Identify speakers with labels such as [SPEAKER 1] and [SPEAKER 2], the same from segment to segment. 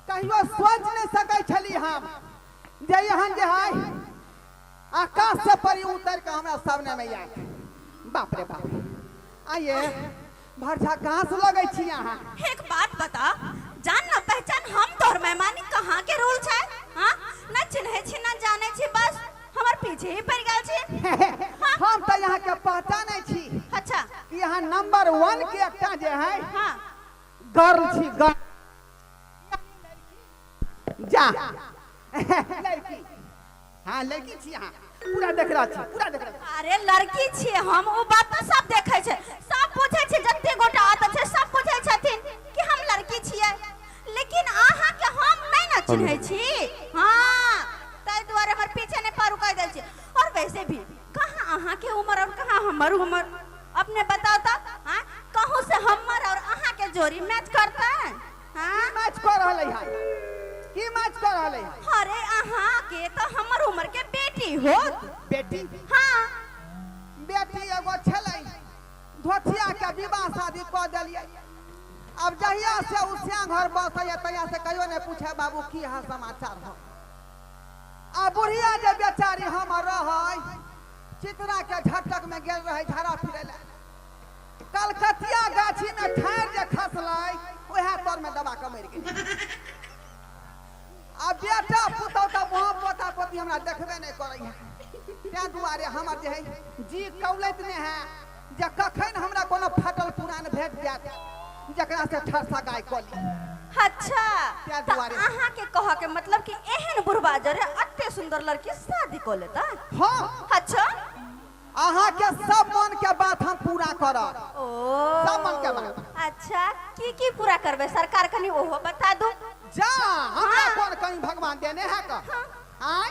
[SPEAKER 1] कहियो सोच नहि सकै छली हम जे एहन जे है आकाश से परी उतर के हमरा सामने में आयल बाप रे बाप आइए भरझा कहाँ से लगै छी अहाँ एक बात बता जान न पहचान हम तोर मेहमानी कहाँ के रोल छै हाँ न चिन्हे छी न जाने छी बस हमर पीछे ही पड़ गए छी हम तो यहाँ के पहचानै छी अच्छा कि यहाँ नंबर वन के एकटा जे है हाँ गर्ल छी गर्ल जा लड़की हाँ लड़की छी हाँ पूरा देख रहा छी पूरा देख रहा छी अरे लड़की छी हम ओ बात तो सब देखे छै सब बुझे छै जते गोटा आत छै सब बुझे छथिन कि हम लड़की छियै लेकिन अहाँ के हम नहीं ना चिन्हे छी हाँ ताहि दुआरे हमर पीछे नहीं पड़ू कह दे छी और वैसे भी कहाँ अहाँ के उम्र और कहाँ हमर उम्र अपने बताओ तो हाँ कहूँ से हमर और अहाँ के जोड़ी मैच करता है हाँ मैच कर रहले है की मैच कर रहले है अरे अहाँ के तो हमर उम्र के बेटी हो बेटी हाँ बेटी एगो छलै धोथिया के विवाह शादी कऽ देलियै अब जहिया से उ सियां घर बसैया तहिया से कहियो नहि पूछे बाबू की हाल समाचार हो आ बुढ़िया जे बेचारी हमर रहै चित्रा के झटक में गेल रहै झाड़ा फिरे ले कलकतिया गाछी में ठाढ़ जे खसलै उएह तर में दबा के मरि गेल आ बेटा पुतौ तऽ वहाँ पोता पोती हमरा देखबे नहि करैया तैं दुआरे हमर जे है जी कौलैत ने है जे कखन हमरा कोनो फाटल पुरान भेट जायत जकरा से ठरसा गाय कऽ ली अच्छा ताहि तऽ दुआरे। अहाँ के कह के मतलब कि एहन बुढ़बा जरे अते सुंदर लड़की शादी कऽ लेता हँ अच्छा अहाँके सब मन के बात हम पूरा करब ओ सब मन के बात। अच्छा की की पूरा करबे सरकार कनी ओहो बता दू जा हमरा हाँ। कोन कहीं भगवान देने है का आय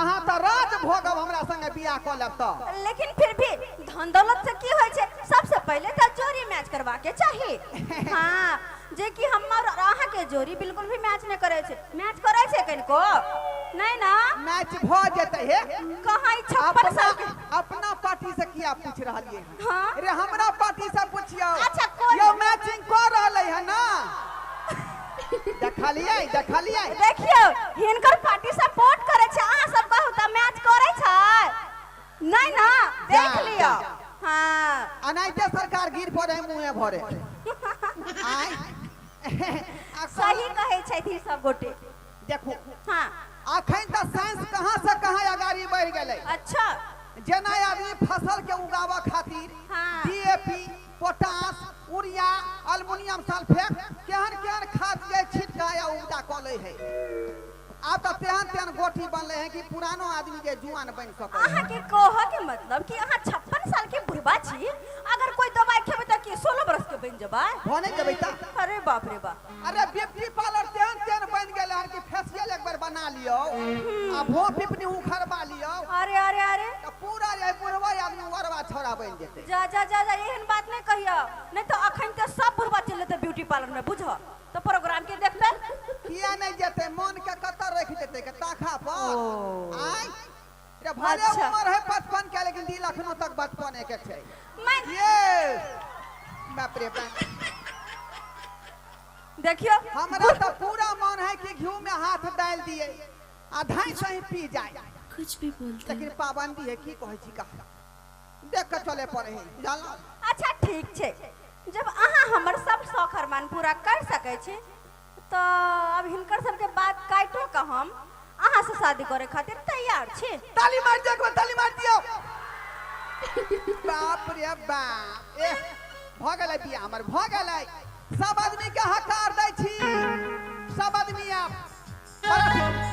[SPEAKER 1] अहाँ तऽ राज भोगब हमरा संगे बियाह कऽ लेब तऽ लेकिन फिर भी धन दौलत से की होइ छै सबसे पहले तऽ जोड़ी मैच करबा के चाही हाँ जे कि हमर और अहाँ के जोड़ी बिल्कुल भी मैच नहीं करे छै मैच करे छै कनिको नहीं ना मैच भऽ जेतै हे कहाँ ई छप्पन अपना साल के अपना पार्टी से किया पूछ रहलियै हाँ अरे हमरा पार्टी से पूछियो अच्छा, कोन- यो मैचिंग कर रहले है ना देखलिए देखलिए देखियो हिनकर पार्टी सपोर्ट करे छै अहाँ सब कहू तऽ मैच करे छै नहीं ना देख जा, लियो जा, जा। हाँ अनाइते सरकार गिर पड़े मुँहे भरे आय आ सही कहै छथि ई सब गोटे देखू हाँ अखन तऽ साइंस कहाँ से कहाँ अगाड़ी बढ़ गेलै अच्छा जेना आदमी फसल के उगाबऽ खातिर हाँ। DAP potash urea aluminium sulphate केहन केहन खाद जे छिटका या उपजा कऽ लै है आब तऽ तेहन तेहन गोटी बनलै है कि पुरानो आदमी के जुआन बनि सकै है अहाँके कहऽ के मतलब कि अहाँ छप्पन साल के बुढ़बा छी अगर कोई दवाई खेबै तऽ की सोलह बरस के बनि जेबै भने जेबै तऽ अरे बाप रे बाप अरे ब्यूटी पार्लर तेहन तेहन बन गेले हन कि फेशियल एक बार बना लियो आ भो पिपनी उखड़वा लियो अरे अरे अरे तो पूरा ये बुढ़वा आदमी वरवा छोरा बन जेते जा जा जा जा एहन बात नहीं कहियो नहीं तो अखन के सब बुढ़वा चल जेते ब्यूटी पार्लर में बुझ तो प्रोग्राम के देखते किया नहीं जेते मन के कतर रख देते के ताखा पर ओ। आय रे भले अच्छा। उम्र है पचपन के लेकिन दिल अखनो तक बचपने के छै मैं ये बाप रे बाप देखियो हमरा तो पूरा मन है कि घी में हाथ डाल दिए आ धाई से ही पी जाए कुछ भी बोलते लेकिन पाबंदी है की कहै छी का देख के चले पड़े है जानला अच्छा ठीक छै जब अहाँ हमर सब शौक अरमान पूरा कर सकै छी त आब हिनकर सबके बात काइटो क हम अहाँ से शादी करे खातिर तैयार छी। ताली मार दियो एक बार ताली मार दियो बाप रे बाप ए भ गेलै बिया हमर भ गेलै सब आदमी के हकार दै छी सब आदमी आब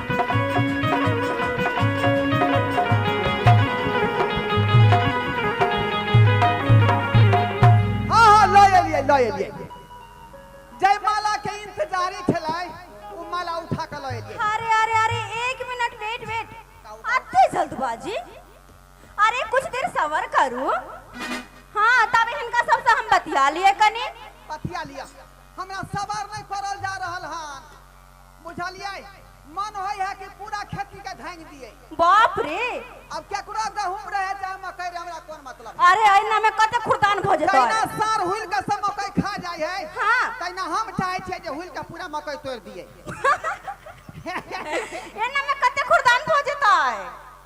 [SPEAKER 1] हाँ हाँ लऽ एलियै लऽ एलियै जय माला के इंतजारी छलै ओ माला उठा कऽ लऽ एलियै अरे अरे अरे एक मिनट वेट वेट अते जल्दबाजी अरे कुछ देर सबर करू हाँ तब हिनका सबसे हम बतिया लिए कनी पथिया लिअ हमरा सवार नहि करल जा रहल हन बुझलियै? मन होइ हे कि पूरा खेती के धांगि दियै। बाप रे! आब केकरो गहूम रहै चाहे मकइ रहै हमरा कोन मतलब हे। अरे अहिना मे कते खुरदान भ जेतै। जहिना साँढ़ हुलि के सब मकइ खा जाइ हे हाँ। तहिना हम चाहै छियै जे हुलि के पूरा मकइ तोड़ि दियै। एना मे कते खुरदान भ जेतै।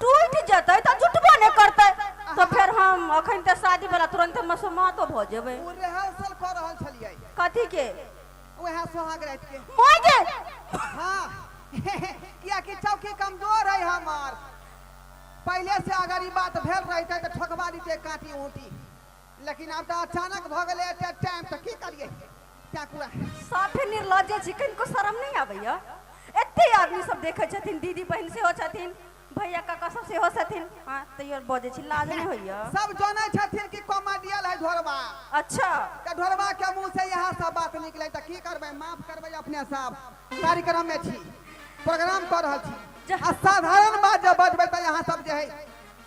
[SPEAKER 1] टूटि जेतै तऽ जुटबो नहि करतै तऽ फेर हम अखन तऽ शादी वाला तुरंत मसमातो भऽ जेबै ओ रिहर्सल कऽ रहल छलियै कथी के उएह सोहाग राति के माय गे हाँ कियाकि चौकी कमजोर है हमार पहले से अगर ई बात भेल रहते तऽ ठोकबा दीते काटी ऊँटी लेकिन आब तऽ अचानक भऽ गेलै एते टाइम तऽ की करियै क्या कुआ साफे निर्लज्जे छी कनिको शरम नहि आबैया एते आदमी सब देखै छथिन दीदी बहिन सेहो छथिन भैया काका सब सेहो छथिन हँ तैयो बजै छी लाज नहि होइया सब जानै छथिन कि कॉमेडियल है ढोरबा अच्छा तऽ ढोरबा के मुंह से यह सब बात निकलै तऽ की करबै माफ करबै अपने सब कार्यक्रम में छी प्रोग्राम कर रहल छी जा। आ साधारण बात जब बजबै तऽ यहाँ सब जे है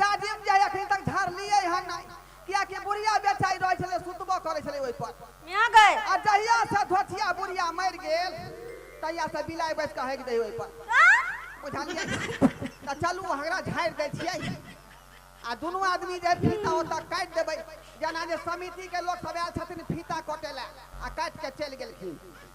[SPEAKER 1] जाजिम जे अखन तक झरलियै हन नहि कियाकि बुढ़िया बेचाइ रहै छलै सुतबो करै छलै ओहिपर मियाँ गए आ जहिया से धोथिया बुढ़िया मरि गेल तहिया से बिलाइ बैस कऽ हगि दै ओहिपर बुझलियै तऽ चलू हमरा झाड़ि दै छियै आ दुनू आदमी जे फीता ओतऽ काटि देबै जेना जे समितिके लोक सब आयल छथिन फीता कटे लए आ काटि कऽ चलि गेलखिन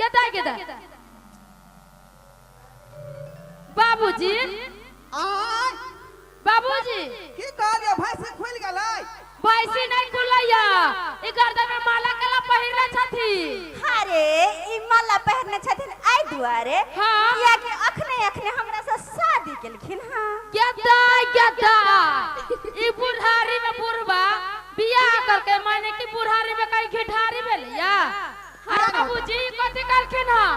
[SPEAKER 1] गेदा गेदा बाबूजी आय बाबूजी की कहलियो भैंसी खुल गेलै भैंसी नहीं खुलैया ई गर्दन में माला कला पहिरले छथि अरे ई माला पहिरने छथिन एहि दुआरे हाँ। कियाकि अखने अखने हमरा से शादी केलखिन हँ गेदा गेदा ई बुढ़ारी में बुढ़वा बियाह करके माने कि बुढ़ारी में कहीं घिठारी भेलैया अरे बाबूजी कथी करखिन हँ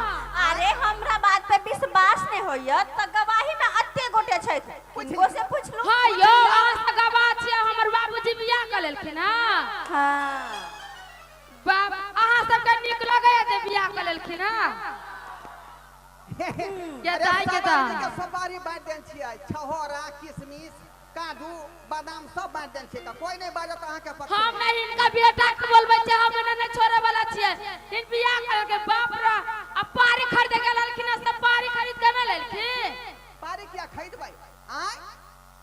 [SPEAKER 1] अरे हमरा बात पे विश्वास नहीं होइए तो गवाही में अत्ते गोटे छै उनको से पूछ लो हाँ यो अहाँ से गवाह छियै हमर बाबूजी बियाह कऽ लेलखिन हँ हाँ बाप अहाँ सबके नीक लगैए जे बियाह कऽ लेलखिन हँ ये दाई के दाई। सवारी बांट देन छियै छहोरा किशमिश काजू बादाम सब बांट देन छी त कोई नहीं बाजत अहा के पक्ष हम नहीं इनका बेटा के बोलबे छै हम इन्हें नहीं छोड़े वाला छिए इन बियाह कर के बाप रे अब पारी खरीद के ललखिन सब पारी खरीद के ना ललखिन पारी किया खरीद भाई आय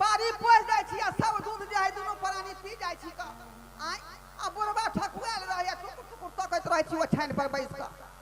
[SPEAKER 1] पारी पोस जाय छी आ सब दूध जे है दोनों प्राणी पी जाय छी का आय आ बुढ़वा ठकुआल रहे टुकुर टुकुर तकत रहे छी ओ छान पर बैस का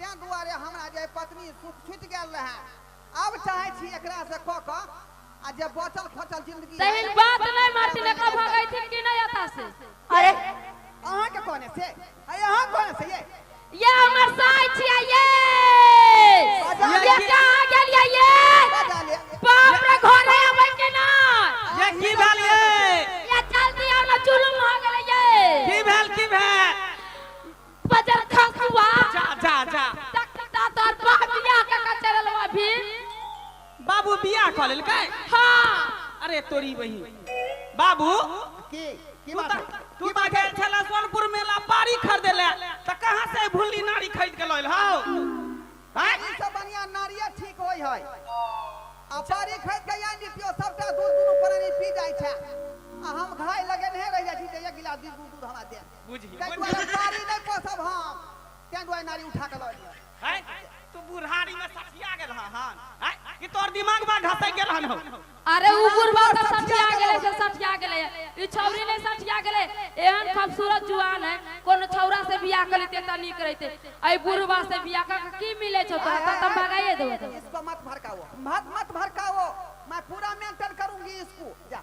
[SPEAKER 1] तैं दुआरे हमरा जे पत्नी सुख छुटि गेल रहै आब चाहै छी एकरा से कऽ कऽ आ जे बचल खोचल जिंदगी तेहन है, बात नहि मारती ने कब भगै छी कि नहि एता से अरे अहाँ के कोने से अरे अहाँ कोने से ये ये हमर साय छियै ये ये कहाँ गेलियै ये बजा ले बाप रे घरे अबै कि नहि ये की भेल ये ये जल्दी आउ ने जुलुम हो गेलै ये की भेल की भेल बजर खसुआ जा जा जा तकता तोर बा बियाह के का चलल बा भी बाबू बियाह कऽ लेलकै हां अरे तोरी बही बाबू की की तू बात तऽ है? तू तऽ गेल छला सोनपुर मेला पारी खरीदे ले तऽ कहाँ से भुल्ली नारी खरीद के लइल हौ हैं? ई सब बढ़िया नारिया ठीक होय है आ पारी खरीद के यान दियो सबटा दूध दुनू पर पी जाय छै आ हम घाय लगेने रह जाय छी जे एक गिलास दूध दूध हमरा दे बुझी ताहि बुझी दुआरे साड़ी नहि पोसब हम ताहि दुआरे नारी उठा कऽ लऽ एलियै हैं? तू बुढ़ारी में सठिया गेल हन हैं? कि तोर दिमाग में घसक गेल हन हो अरे उ बुढ़वा तऽ सठिया गेलै से सठिया गेलै ई छौरी नहि सठिया गेलै एहन खूबसूरत जुआन है कोनो छौरा से बियाह कर लेते तऽ नीक रहिते एहि बुढ़वा से बियाह कऽ के की मिलै छौ तोरा तऽ तऽ भगाइए देबो इसको मत भड़काओ मत मत भड़काओ मैं पूरा मेंटेन करूंगी इसको जा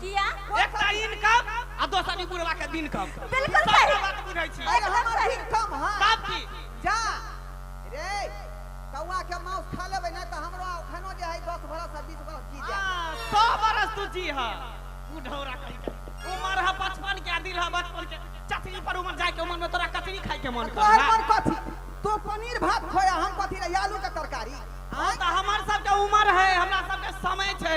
[SPEAKER 1] किया एक तऽ इनकम आ दोसर ई बुढ़वा के दिन कम बिल्कुल सब सही। बात बुझै छी अरे एकदम हमर सही। इनकम है तब की जा रे कौआ के मांस खा लेबै ना तऽ हमरो अखनो जे है 10 बरस से 20 बरस जी जाए हाँ, सौ बरस तू जी हा बुढ़ौरा कहीं के उमर हा बचपन के आ दिल हा बचपन के चटनी पर उमर जाए के उमर में तोरा कचरी खाए के मन तोहर कर पर कथी तू पनीर भात खोया हम कथी रे आलू के तरकारी आँय? हमर सबके उमर है हमरा सबके समय छै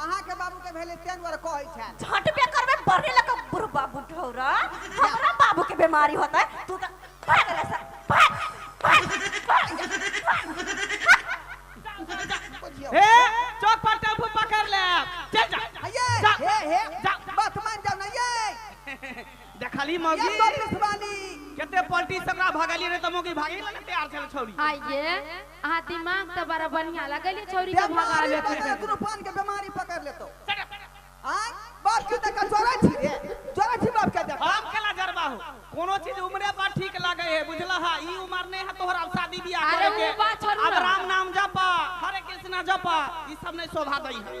[SPEAKER 1] अहाँ के बाबू के भेले तेन वर कहै छै झटबे करबे बरने लग बुढ़बा बुढ़ौरा हमरा बाबू के बीमारी होता है तू तो भाग ले सर भाग भाग भाग जा, भाग बुझियो हे चौक पर टेम्पू पकड़ ले चल जा हये जा। हे हे जा। बात मान जाओ ना ये देखली ये मौगी तो पिसवानी केते पलटी सकरा भगली रे त मौगी भागी ना तैयार छल छौरी आइए अहाँ दिमाग तऽ बड़ा बढ़िया लगैली छौरी के बेमारी भगावे पकड़ खातिर दुनू पान के बेमारी पकड़ लेतो आय बाप की तक जोरे छी रे जोरे छी बाप के देख हम केला जरबा हो कोनो चीज उम्रे पर ठीक लगे है बुझला हा ई उम्र नहीं है तोहरा अब शादी बियाह अरे करे के ऊ बात छोड़ू अब ना। राम नाम जपा हरे कृष्णा जपा ई सब नहीं शोभा दई है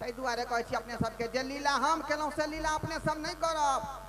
[SPEAKER 1] ताहि दुआरे कहै छी अपने सभकेँ जे लीला हम केलहुँ से लीला अपने सभ नहि करब।